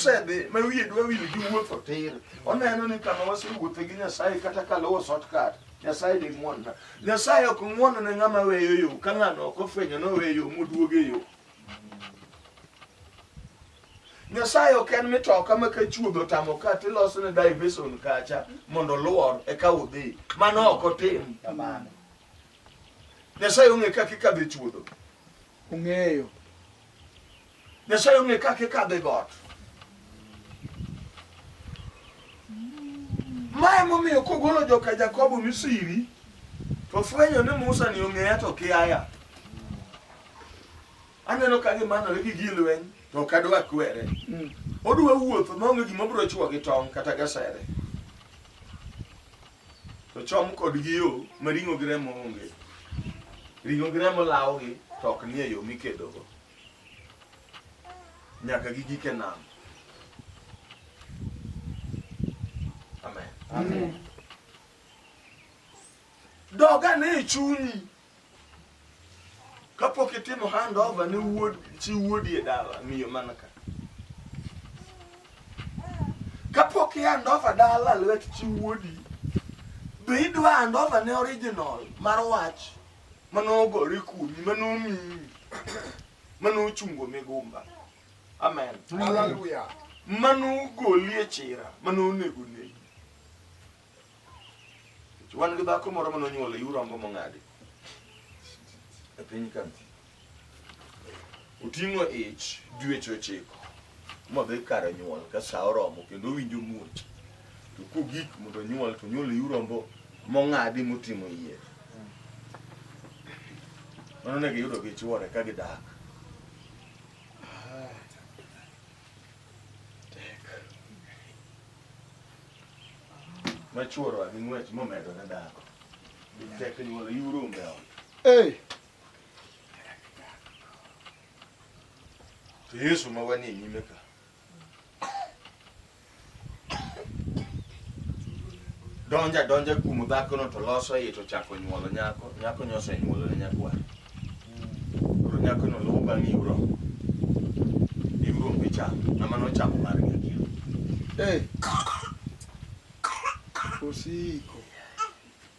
osedhi ma wiye dwa wil gi wuotho tir oneno ni kama wasewuothe gi nyasaye kata kaluwo shortcut nyasaye ni ng'wonna nyasaye ok ng'wono ne ng'ama weyo yo ka ng'ano ok ofwenyo noweyo yo moduog e yo nyasaye ok en mitoka ma ka chuodho tamo ka tiloso ne diversion kacha mondo luor eka udhi mano ok otim kamano nyasaye ong'e kaka ikadho e chuodho ong'eyo Nyasaye ong'e kaka ikadho e got. Ma emomiyo kogolo joka Jakobo Misiri to fwenyo ni Musa ni ong'eya to kiaya. Aneno ka gimanore gi gir lweny to ok adwa kwere. Mm. Odwa wuotho maonge gima obiro chwo gi tong' kata gasere. To chom kod gi yo ma ring'o gi remo onge. Ring'o gi remo lawogi to ok nie yo mikedogo. nyaka gi gike nam. Amen. Amen. Doga ne e chunyi kapok itimo handover ne wuod chi wuodi e dala miyo mana ka kapok i handover dala lwet chi wuodi be idwa handover ne original mar wach manogore kuomi manomiyi manochungo migumba amen Hallelujah. manogoli e chira manonego negi wan gi dhako moro manonyuol e urombo mong'adi e piny ka Oting'o ich dweche ochiko modhi kar nyuol ka sa oromo kendo owinjo muoch. To kogik mondo onyuol to onyuol iu rombo mong'adi motimo yie. Mano ne giyudo gi chwore ka gidak. Ma chwore gi ng'wech momedore dhako. Tek nyuol iu rombe ot. Hey! to yesu ma wanie nyime ka donja donja kuom dhakono to loso iye to chako nyuolo nyako nyako nyose nyuolo ne nyakwar koro nyakono luwo bang' iwro iwro onge cham ama nochamo mar nyakia Ei. Osiko.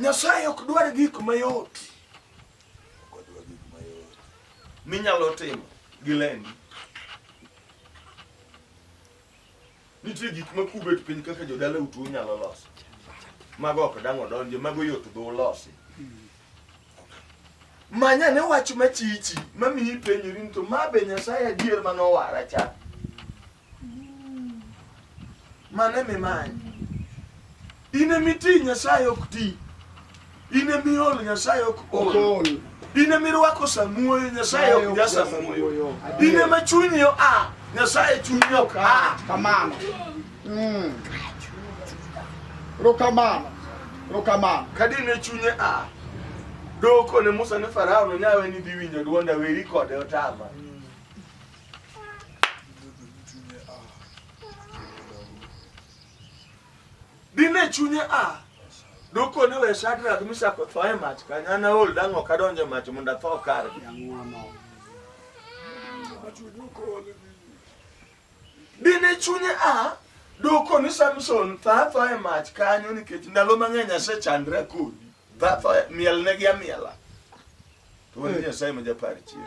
Nyasaye ok dwar gik mayot minyalo timo gi lendi. Nitie gik ma kubet piny kaka jodala utu unyalo loso. Mago ok dang' odonje, mago yot dho ulosi. Manya ne wach machichi mamiyi penjori ni to ma be Nyasaye adier manowara cha? Mano ema imanyo. In ema iti, Nyasaye ok ti. In ema iol, Nyasaye ok ol. In ema irwako samuoyo, Nyasaye ok ja samuoyo. In ema chunyi oa, Nyasaye chunyi ok a. Kamano. Mm. Rokamano. Rokamano. Kadi ne chunye a. Doko ne Musa ne Farao no nyawe ni dhi winjo dwonda weri kode otama. Dine chunye a dokone we Shadrach Meshach otho e mach kanyana ol dang' ok adonj e mach mondo atho kare. Dine chunye a Dwoko ni Samson thatho e mach kanyo nikech ndalo mang'eny asechandre kodi. Thatho e, mielnegi amiela. Wuod Nyasaye ma japar chier.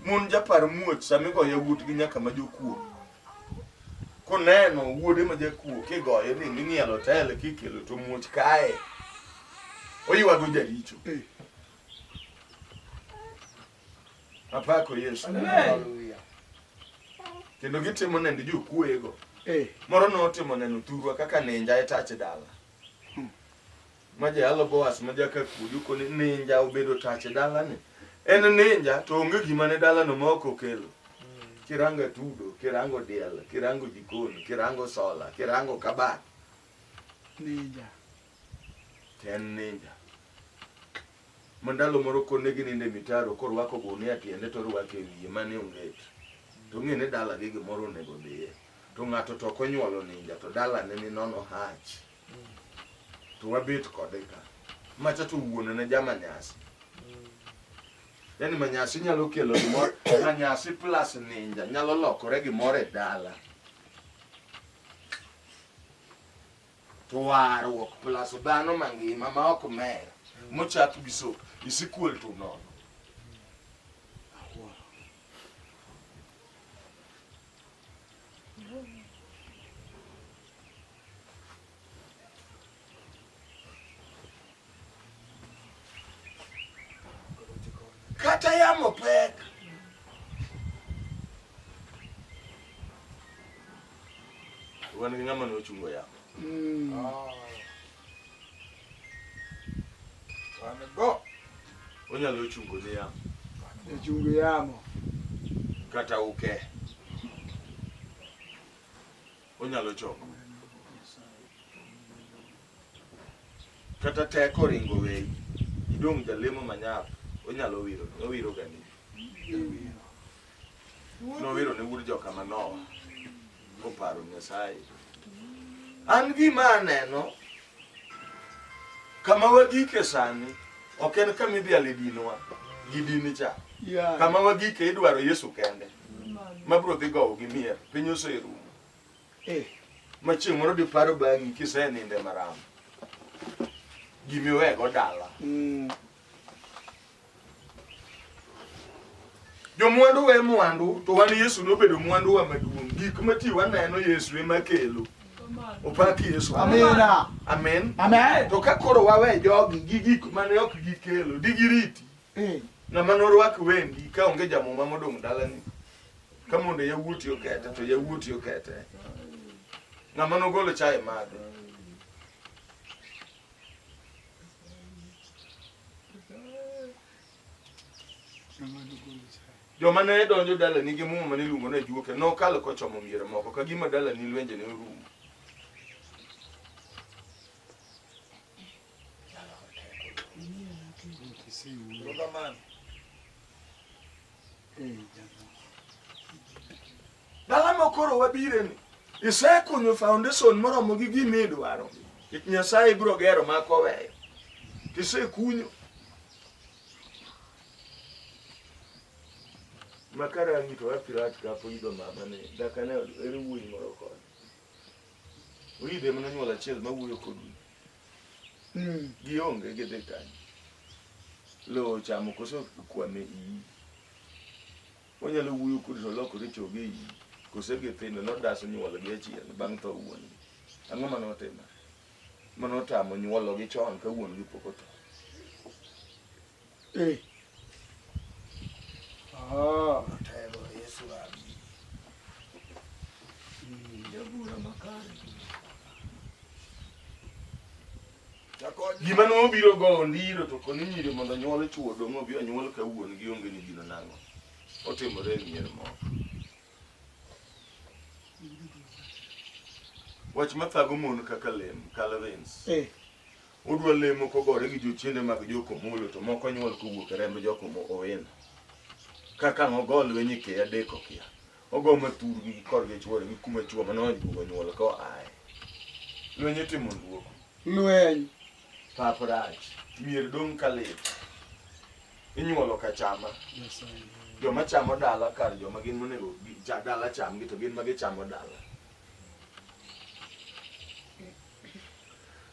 Mon japar muoch sama igoyo yawuotgi nyaka ma jokuo. Koneno wuode ma jakuo kigoye ni ing'ielo tele kikelo to muoch kae. Oywago jaricho. Apako Yesu. Hallelujah. Kendo gitimo nende jokuoyego. Eh, Moro notimo neno thurwa kaka ninja e tach dala. ma jayalo Boaz ma jakakudu koni ninja obedo tach e dalani. En ninja to onge gima ne dalano ma ok okelo. Kirango atudo, kirango diel, kirango jikon, kirango sola, kirango kabat. Ninja. To en ninja. Ma ndalo moro konegi ninde mitaro korwako gunia tiende to orwako e wiye mane onget. To ng'e ni dalagi gimoro onego dhiye. To ng'ato to ok onyuolo ninja to dalane ni nono hach. to wabet kode ka macha to wuon ne jama nyasi yani manyasi nyalo kelo gimoro manyasi plus ninja nyalo lokore gimoro e dala to warruok plus dhano mangima ma ok mer mochak gi so isikuel to nono kata yamo pek wan gi ng'ama nochungo yamo mm. ah. wan go onyalo chungo ni yamo chungo yamo kata uke okay. onyalo chopo. Kata teko ringo weyi, idong' jalemo manyap, onyalo wiro, owiro gani. Nowiro ne wuod joka manoa, koparo Nyasaye. An gima aneno, Kama wagike sani ok en kama idhiale dinwa gi dini cha. Yeah. Kama wagike idwaro Yesu kende mabiro dhi gowo gi mier piny oserumo. Eh. Ma chieng' moro diparo bang'i kiseninde maramo gimiwego dala. Mm. Jomwandu we mwandu, to wan Yesu nobedo mwanduwa maduong'. Gik ma ti waneno Yesu ema kelo. Opak Yesu. Amina. Amen. Amen. To ka koro wawe jogi gi gik mane ok gikelo, digiriti. Eh. Ng'ama norwak wendi ka onge jamuma modong' dalani. Ka mondo yawuoti okete to yawuoti okete. Ng'ama nogolo chai madhe. joma ne donjo dalani gi muma mane iluongo ni ajuoke nokalo kochomo mier moko ka gima dalani lwenje ne orumo Dala ma koro wabire ni isekunyo foundation moromo gi gima idwaro. It Nyasaye ibiro gero ma koweyo. Tisekunyo. Makara ngito wa pirat ka po ido mama ne dakane eri wuoyi moro kod. Uyide mana nyuol achiel ma wuoyo kodu. Mm. Gionge gidhi kanyo. Lowo chamo koso kwame iyi. Wanyalo wuoyo kuom to lokore chogo e iyi, kose githindo nodaso nyuolgi achien bang' tho wuon gi. Ang'o ma notimo? Ma notamo nyuologi chon ka wuon gi pok otho. Eh. Ah, telo Yesu abi. Jabura makare. Gima no biro go ondiro to koni nyiri mondo nyuol chuo dong' obi onyuol ka wuon gi onge ni gino nang'o. Otimore e mier moko. Wach mathago mon kaka lem, Calvins. Eh. Odwa lemo kogore gi jochiende mag jokomolo to moko nyuol kowuok e remb jokomo owena. Kaka ng'o go lweny e keya deko kia. Ogo ma thurgi gi korgi chwore gi kuma chwo ma nonyuolo nyuol ko ae. Lweny itimo luoko. Lweny. Pap rach. Mier dong' ka lit. Inyuolo ka chama. Joma chamo dala kar joma gin monego dala chamgi to gin ma gichamo dala.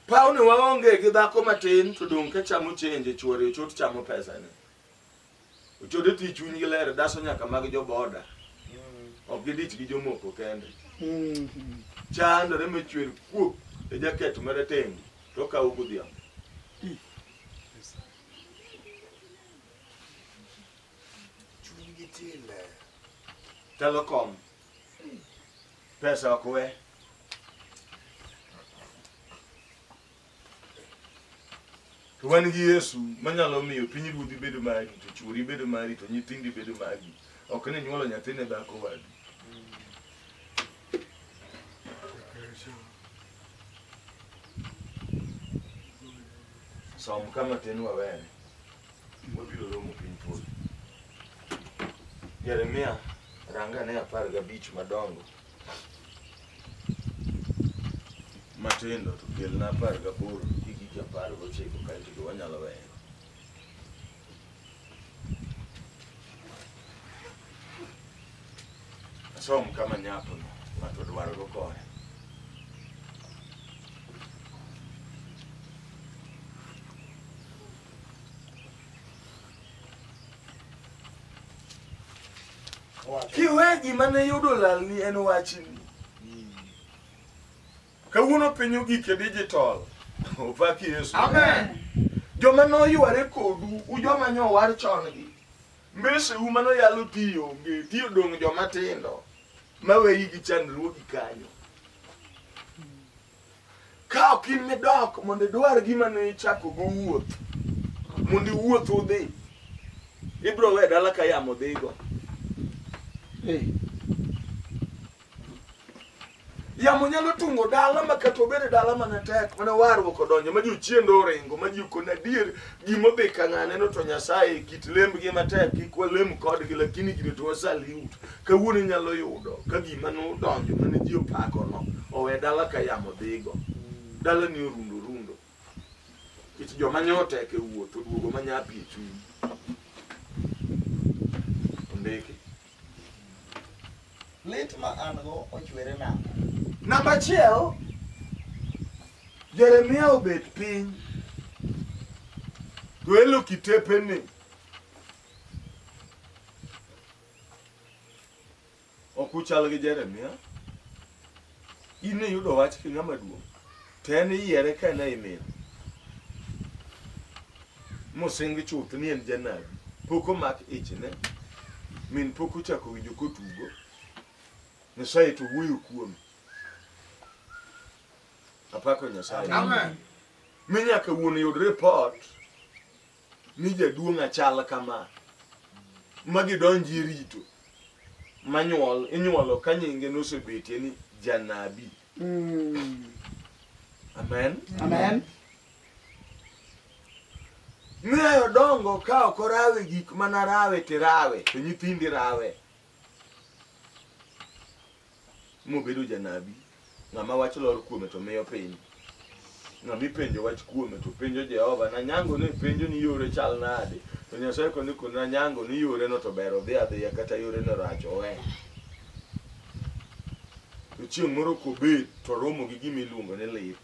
Pawni waonge gi dhako matin to dong' ka chamo chenje chwore ochot chamo pesane. Ochode ti chunygi ler daso nyaka mag joboda. Ok gidich gi jomoko kende. Chandore machwer kuok e jaket marateng' to okawo godhiambo. Chunygi ti ler. Telecom. Pesa ok we. To wan gi Yesu manyalo miyo piny ruodhi bedo mari, to chuori bedo mari, to nyithindi bedo mari. Ok ni nyuolo nyathi ne dhako wadu. Som kama tin wawene. Wabiro romo piny polo. Jeremia ranga ne apar gabich madongo. matindo to kelna apar gaboro gi gigi apar gochiko kaeto to wanyalo weyo. Asom kama nyapo no, ng'ato dwaro go kore. kiwe gima ne yudo lalni en wachni kawuono piny ogik e digital opaki yesu joma noyware kodu u joma nyowar chon gi mbese u mano yalo tiyo onge tiyo dong' joma tindo maweyi gi chandruogi kanyo Ka ok in midok mondo idwar gima ne ichako go wuoth, mondo iwuoth udhi, ibiro we dala ka yamo dhigo. Hey. Yamo nyalo tungo dala ma kata obed e dala mana tek mana warruok odonjo ma ji ochiendo oringo ma ji okon adier gima odhi ka ng'ane no to Nyasaye kit lembgi matek kik walem kodgi lakini gini to wasaliu Kawuono inyalo yudo ka gima nodonjo mane ji opakono owe dala ka yamo dhigo. Dala ni orundo rundo. Kech joma nyotek e wuoth oduogo ma nyapi e chuny. Ondiki. Lit ma an go ochwere nang'o? Namba achiel, Jeremia obet piny to elo kitepeni Ok uchal gi Jeremia. In ne yudo wach ki ng'ama duong'. To en iyiere ka en ei mil. Mosingi chuth ni en janabi. Pok omak ichne. Min pok ochako winjo kotugo. Nyasaye to wuoyo kuome. Apako Nyasaye. Amen. Mi nyaka wuon yud report ni jaduong' achal kama ma gidonji e rito manyuol inyuolo ka nyinge nosebetie ni janabi mm. amen amen miyo dongo ka ok orawe gik mana rawe tirawe to nyithindi rawe mobedo janabi, ng'ama wach lor kuome to miyo piny. Ng'ama ipenjo wach kuome to penjo Jehova, nanyango ni penjo ni yore chal nade? To Nyasaye koni koni nanyango ni yore no to ber odhi adhiya kata yore no rach owe. To chieng' moro kobet to romo gi gima iluongo ni lit.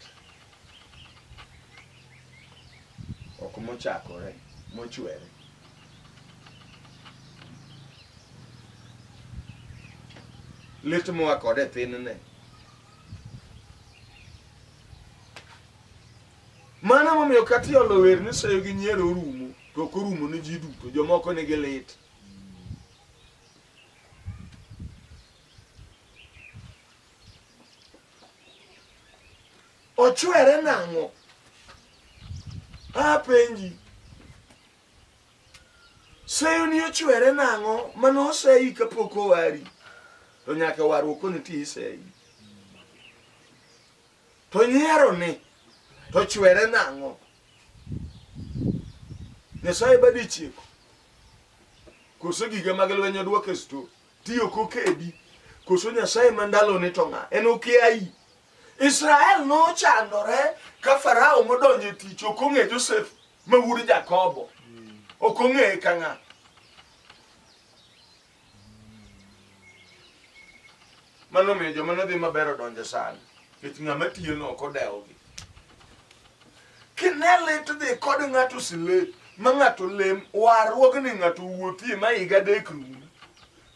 ok mochakore mochwere. Lit moa kode e thinne. Mano momiyo kata iolo wer ni seyo gi nyiero orumo to ok orumo ne ji duto, jomoko nigi lit. ochwere nang'o apenji seyo ni ochwere nang'o mano oseyi kapok owari to nyaka warruok koni ti iseyi to nyiero ni to chwere nang'o nyasaye badi chieko koso gige mag lweny odwoke sto Tiyo kokedi. Koso Nyasaye ma ndalone to ng'a? En okiayi. Israel nochandore ka Farao modonjo e tich ok ong'e Joseph ma wuod Jakobo. Ok ong'eye ka ng'a. Mano miyo joma nodhi maber odonjo sani. Nikech ng'ama tiyono ok odewogi. Kine lit dhi kod ng'ato sile ma ng'ato lem warruogni ng'ato wuothie ma higa adek rum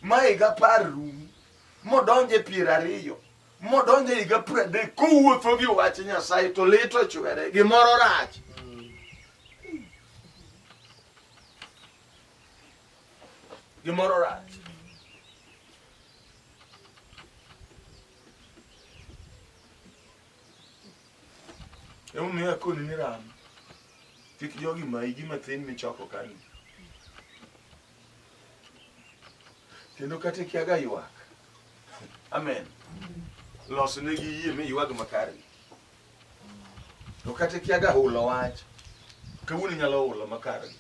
ma higa apar rum modonje piero ariyo modonje higa piero adek kowuotho gi wach Nyasaye to lit ochwere gimoro rach. Gimoro rach. Emomiyo akoni ni ram. Kik jogi mayi gima thin michoko kani. Kendo kata ikiaga ywak. Amen. Los negi yie mi ywag makare. To kata ikiaga hulo wach, kawuono inyalo hulo makare.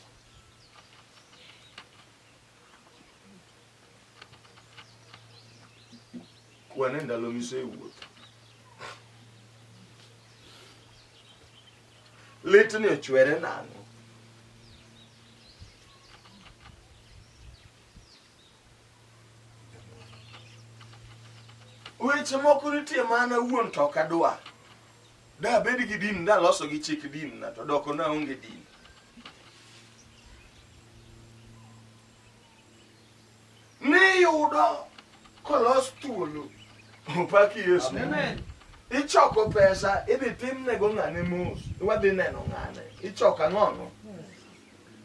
Kwan e ndalo misewuotho. Litni ochwere nang'o? Weche moko nitie mana wuon to ok adwar. Da abed gi din, da loso gi chik din na to doko na onge din. Niyudo kolos thuolo. Opaki Yesu. Amen. Ichoko pesa idhi timnego ng'ane mos. Wadhi neno ng'ane. Ichoko ang'ono.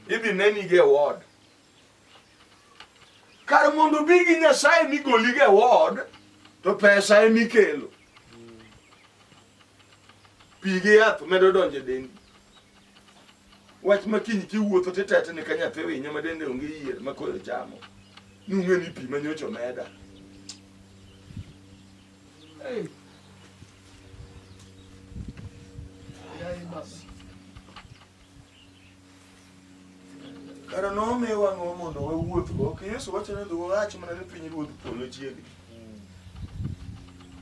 Idhi neni ge ward. kar mondo bi gi nyasaye migoli ge wod to pesa emi kelo pi gi yath medo donje dendi wach ma kiny kiwuotho titetni ka nyathi winyo ma dende onge yier ma koyo chamo nung'e ni pi ma nyocho meda hey. Yeah, Kara nomiwa ang'o mondo wawuothgo? Ok Yesu wacho ni wach mana ni piny ruodh polo chiegni.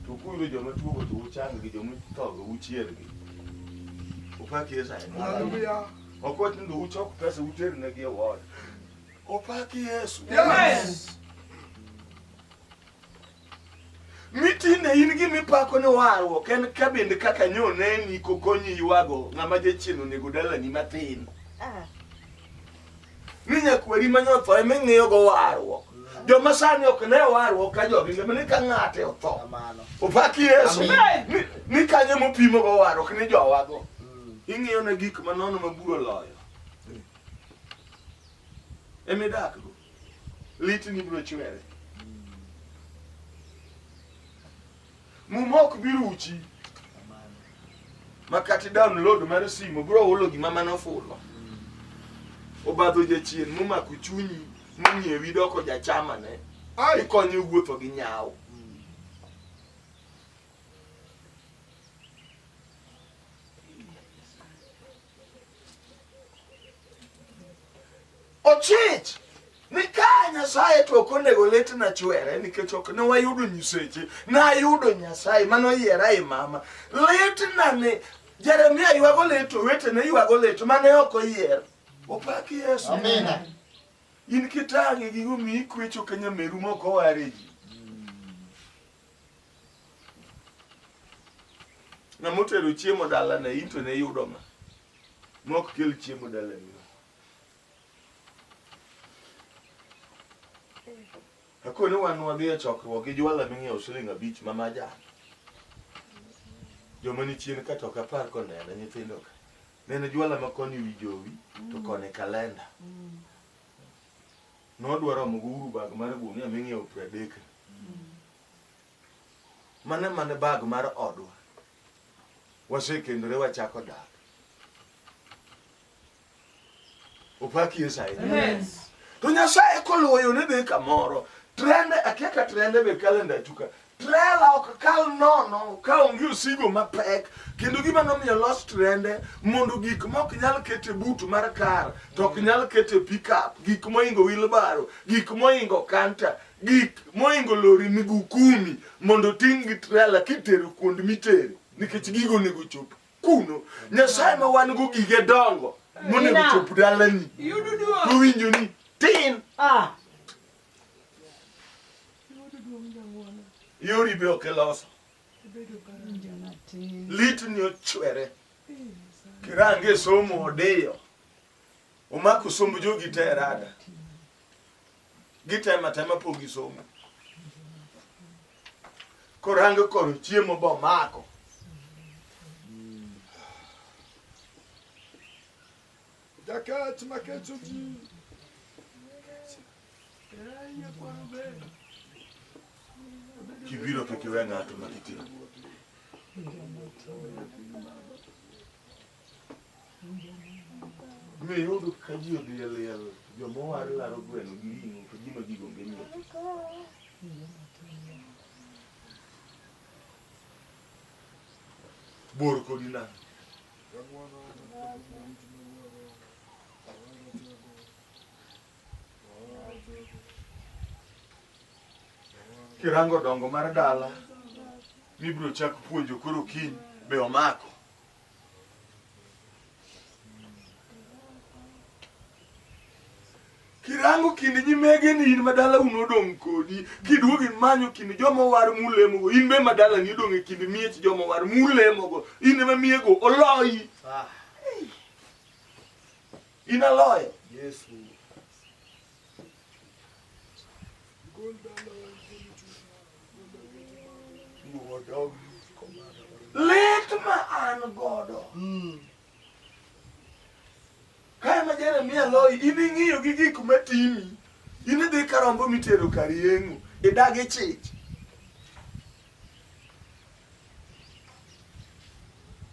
To kuyudo joma tuogo to uchang gi joma ithogo uchiergi. Opak Yesu. Ok wach ni uchok pesa uter negi e ward. Opak Yesu. Yes. Mi tinde in gima ipako ni warruok en ka bende kaka nyoneni kokonyi ywago ng'ama jachien onego dalani matin. Ah. Ni nyakweri ma nyotho ema ing'iyogo warruok. Joma sani ok ne warruok ka jogi ngima ni ka ng'ate otho. Kamano. Opak Yesu. Amen. Ni- Ni kanyo mopimogo warruok ni jowago. Mm. Ing'iyo na gik manono ma buro loyo. Emidakgo. litni biro chwere. Muma ok bi ruchi makati download mar simo bro hulo gima mane ofulo obadho jachien momako chunyi mong'iewi doko jachamane ikonye wuotho gi nyawo ochich ni ka nyasaye to ok onego lit na chwere nikech ok ne wayudo nyiseche nayudo nyasaye mano yiera i mama lit na ni jeremia ywago lit owetene ywago lit mane ok oyier opak yesu amina in kitang'e gigo mi ikwecho ka nyameru moko ware ji Ng'ama otero chiemo dalane in to ne yudo ma mok kel chiemo dalani. Akoni wan wadhi e chokruok gi jwala ming'iewo siling abich ma majan. Joma ni chien ka to ok apar koneno nyithindo ka. Neno jwala ma koni wi jowi to koni kalenda. nodwa romo go uru bag mar gunia ming'iewo piero adek mane mane bag mar odwa wasekendore wachako dak opaki esae to nyasaye koluwo yone be kamoro trende akiaka trende be kalenda tuka Trela ok kal nono ka onge osigo mapek, kendo gima nomiyo los trende mondo gik mok nyal kete but mar kar, to ok nyal kete pickup, gik moingo wilbaro, gik moingo kanta, gik moingo lori migukumi mondo ting' gi trela kitero kuond mitere, nikech gigo onego chop kuno. Nyasaye ma wan go gige dongo monego chop dalani, owinjo ni tin. Ah. Yori be ok iloso. Litni ochwere. Kirange e somo odiyo. Omako somb jogi te rada. Gitema tema po gi somo. Korango koro chiemo bo mako. Jakech makecho ji. Kibiro kik iwe ng'ato ma kitimo. Be iyudo ka ji odhi e liel, joma owar laro gweno gi ring'o to gima gigo onge nyiewo. Bor kodi nang'. Kirango dongo mar dala mibiro chak puonjo koro kiny be omako Kirango kind nyimege ni in madala un odong' kodi, kiduogo imanyo kind joma owar mulemogo, in be madala ni odong' e kind miech joma owar mulemogo, in ema miyego oloyi. Ah. In aloyo. Yesu. Lit ma an godo. Mm. Ka ema Jeremia loyi, in ing'iyo gi gik matimi, in idhi ka rombo mitero kar yeng'o, idagi chich.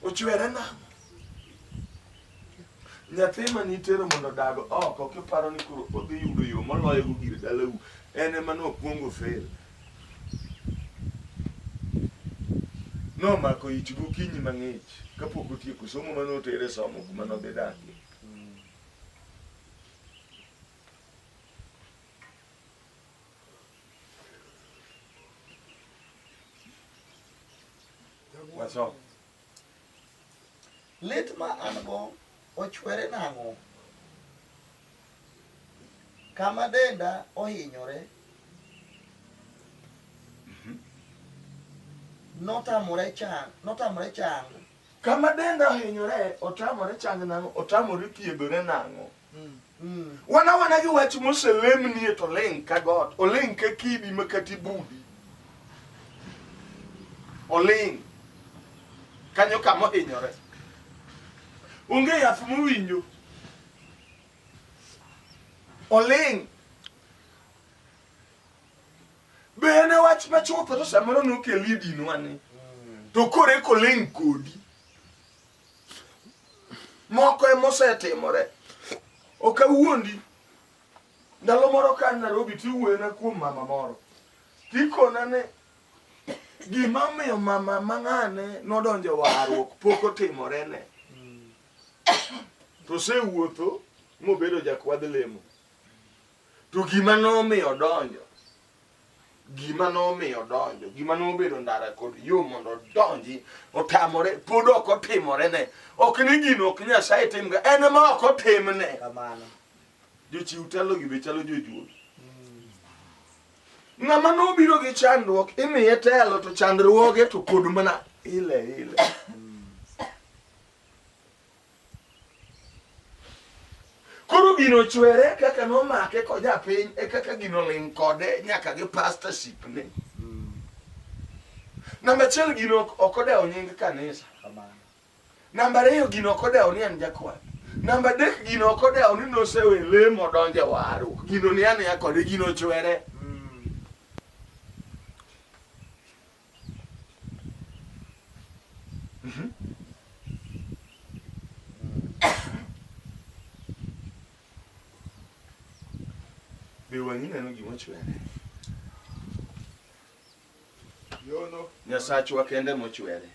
Ochwere nang'o? Nyathi ma nitero mondo odag oko kiparo ni koro odhi yudo yo moloyogo gir dalau, en ema nokwongo fail. Nomako ich gokinyi mang'ich kapok otieko somo ma notere somo kuma nodhi dakie. Wasom. Lit ma an go ochwere nang'o? Kama denda ohinyore mhm. notamore chang, notamore chang. Kama denda ohinyore otamore chang nang'o? Otamore thiedhore nang'o? wan awana gi wach moselemnie to oling ka got oling ka kidi ma kati budi oling kanyo kama ohinyore onge yath mowinjo oling be en e wach machuth to samoro nokel idinwani to kore koling kodi moko emosetimore ok awuondi ndalo moro ka narobi tiwuoyona kuom mama moro tikona ni gima omiyo mama mang'ane nodonjo warruok pok otimorene to osewuotho mobedo jakwadh lemo to gima nomiyo odonjo gima nomiyo odonjo gima nobedo ndara kod yo mondo odonji otamore pod ok otimorene ok ni gino ok nyasaye timga en ma ok otimne jochiw telogi be chalo jojuol ng'ama nobiro gi chandruok imiye telo to chandruoge to pod mana ile ile Koro gino chwere kaka nomake koja piny e kaka gino ling' kode nyaka gi pastorship ne. Namba achiel gino ok odewo nying kanisa. Namba ariyo gino ok odewo ni en jakwath. Namba adek gino ok odewo ni nosewe lemo donje waru. Gino ni aniya kode gino chwere. Be wang'i neno gima ochwe ne? Yono. Nyasachwa kende mochwere.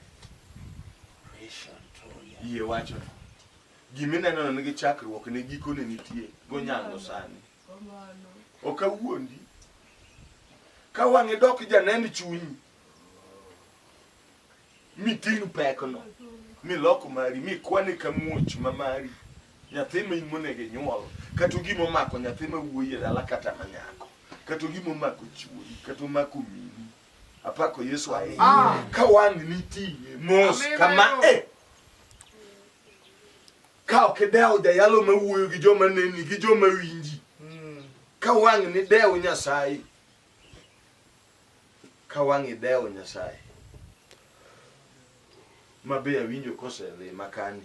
Yie wacho. Gima ineno nigi chakruok ne gikone nitie gonyango sani. ok awuondi ka wang'e dok janen chunyi miting' pekno milok mari mikwane ka muoch ma mari nyathi ma in monego inyuol kata gima omako nyathi ma wuoyi e dala kata ma nyako kata gima omako chuoyi kata omako mini apako yesu ahinya ah. ka wang' niting'e mos kama e Ka ok idewo jayalo ma wuoyo gi joma neni gi joma winji, hmm. ka wang' ni dew Nyasaye, ka wang' idewo Nyasaye ma be awinjo koselima kani,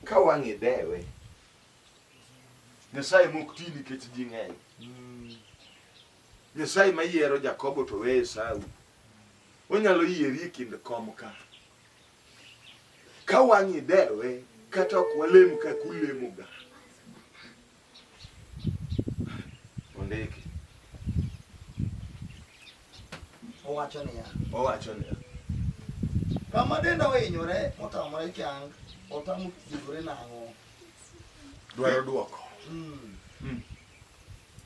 ka wang' idewe Nyasaye mok ti nikech ji ng'eny. Hmm. Nyasaye ma yiero Jakobo to weye Esau. Onyalo yieri e kind kom ka. Ka wang'i dewe kata ok walem kaka ulemoga. Ondiki. Owacho niya. Owacho niya. Kama denda ohinyore motamore chang, otamo thiedhore nang'o? Dwaro dwoko. Mm. Mm.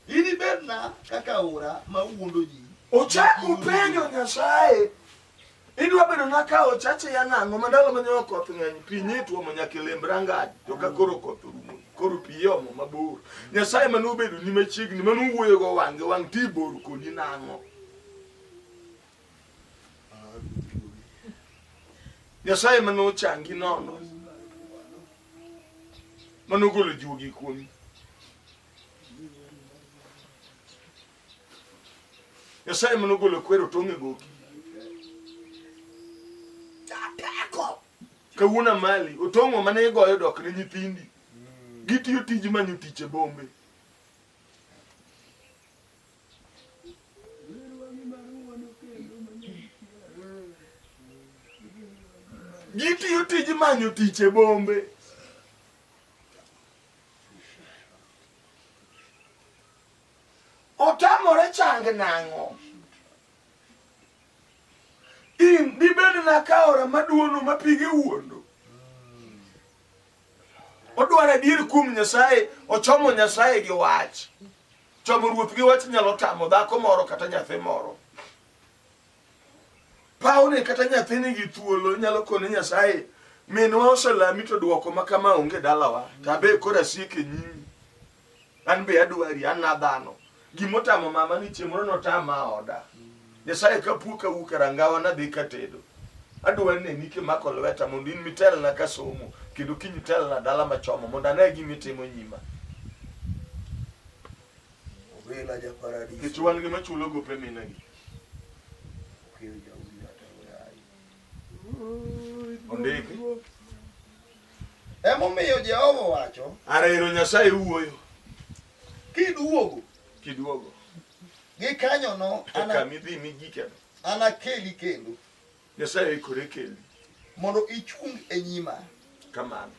Inibedna kaka aora ma wuondo ji. Ochako penjo Nyasaye. Idwa bedo na ka ochache ya nang'o ma ndalo ma nyoyo koth ng'eny pi nye tuomo nyaka e lemb rangaj to ka koro koth orumo koro pi yomo mabor nyasaye mane obedo ni machiegni mane owuoyo go wang'e wang' ti bor koni nang'o nyasaye mane ochangi nono mane ogolo juogi kuomi Nyasaye mane ogolo kwero tong' e goki. Jateko. Kawuono mali otong'o mane igoyo dok ne nyithindi. Gitiyo tij manyo tich e bombe. Gitiyo tij manyo tich e bombe. Otamore change nang'o? In dibed naka aora maduono ma pige wuondo. Odwaro adier kuom Nyasaye, ochomo Nyasaye gi wach. Chomo ruoth gi wach nyalo tamo dhako moro kata nyathi moro. Pawni kata nyathini gi thuolo nyalo kone Nyasaye minwa oselami to dwoko ma kama onge dalawa, to abe koro asik e nyimi. An be adwari, an nadhano. Gima otamo mama ni chieng' moro notama oda. Nyasaye ka puo ka wuok e rangawa nadhi katedo. Adwa neni kimako lweta mondo in mitelna ka somo kendo kiny itelna dala machomo mondo ane gima itimo nyima. Obila ja paradis. Nikech wan gima chulo gope minegi. Okil ja udi ata oyayi. Ondiki. Emomiyo Jehova owacho. Ara ero Nyasaye wuoyo. Kiduogo. Kiduogo. Gikanyono. Eka midhi migikeno. Anakeli kendo. Nyasaye ikore keli. Mondo ichung e nyima. Kamano.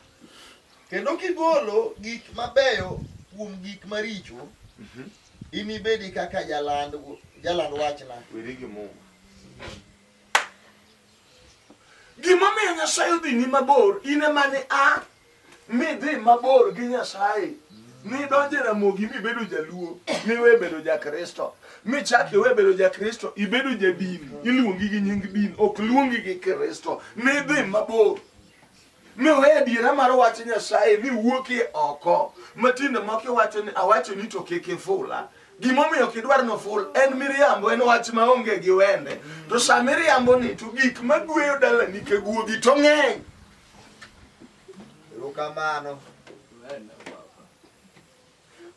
Kendo kigolo gik mabeyo kuom gik maricho. Mm -hmm. Inibedi kaka jaland jaland wachna. Weri gi Mungu. Gimomiyo Nyasaye odhini mabor, in ema ni a midhi mabor gi Nyasaye nidonje Ramogi mibedo jaluo miwe bedo jakristo michak iwe bedo jakristo ibedo jadini iluongi gi nying din ok luongi gi kristo nidhi mabor Miweyo adiera mar wach Nyasaye mi wuoki oko. Matinde moko iwacho ni awacho ni to kik ifula. Gimomiyo ok idwar noful en miriambo, en wach maonge gi wende. To sa miriambo ni to gik magweyo dalani ka guogi to ng'eny. Erokamano.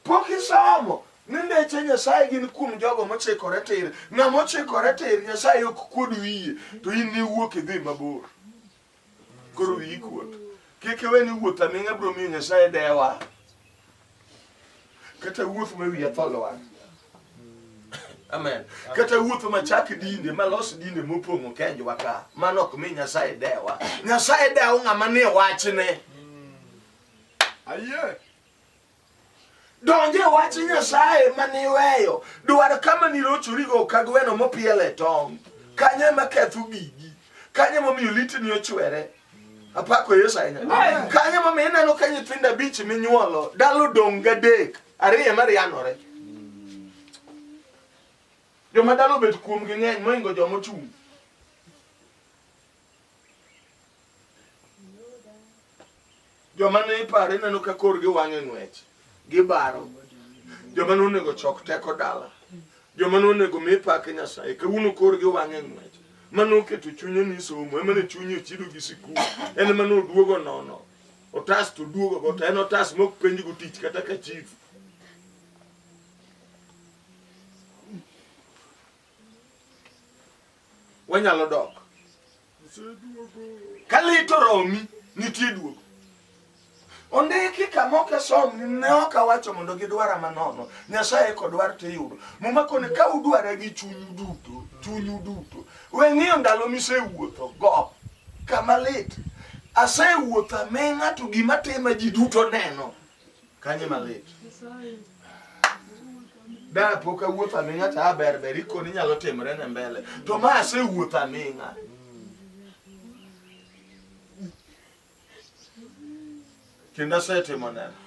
Pok isomo ni ndeche Nyasaye gin kuom jogo mochikore tir. Ng'ama ochikore tir Nyasaye ok kuod wiye to in niwuok idhi mabor. koro wiyi kuot kik iwe ni wuoth aming'a biro miyo nyasaye dewa kata wuoth ma wiya tho lwar amen kata wuoth ma chak dinde ma los dinde mopong'o kenjwa ka mano ok mi nyasaye dewa nyasaye dewo ng'ama ni wachne ayie donje wach nyasaye maniweyo dwar kama nirochorigo ka gweno mopiele tong kanyo ema ketho gigi kanyo emomiyo litni ochwere apako yesu ahinya kanyo emomiyo ineno ka nyithindo abich minyuolo dalo dong gadek ariyo ema rianore joma dalo obet kuomgi ng'eny moingo joma ochung' joma ne iparo ineno ka korgi wang'e ng'wech gibaro joma nonego chok teko dala joma nonego mi pak nyasaye kawuono korgi wang'e ng'wech mane oketo chunye ni somo emane chunye ochido gi sikul en mane oduogo nono otas to duogo go to en otas mok penj go tich kata ka chief wanyalo dok ka lit oromi nitie duogo ondiki kama ok asom ne ok awacho mondo gidwara manono nyasaye kodwar to iyudo muma koni ka udwara gi chunyu duto chunyu duto we ng'iyo ndalo misewuotho go kama lit asewuotho aming'a to gima tima ji duto neno Kanye malit. Da pok awuoth aming'a ta ber ber ikoni nyalo timre ne mbele. To ma asewuoth aming'a. Kendo asetimo neno.